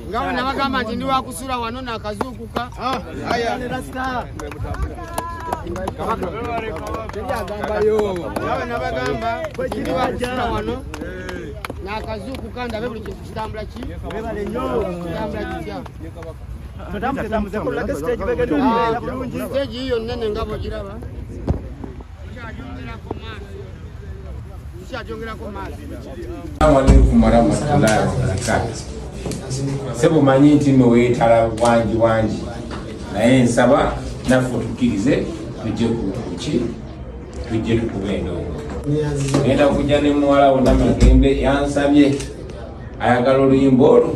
ngawo nabagamba nti ndi wakusula wano nakazuukuka ah, nabagamba wano nakazuukuka ndabe buli kintu kitambula ki kitambula kitya siteegi yiyo nene nga bwegiraba Assalamualaikum warahmatullahi wabarakatuh. Sebo manyi nti no wetala wangi wangi naye nsaba naffe otukirize tujje kuki tujje tukuba endongo genda kujja ne muwala wo namagembe yansabye ayagala oluyimba olwo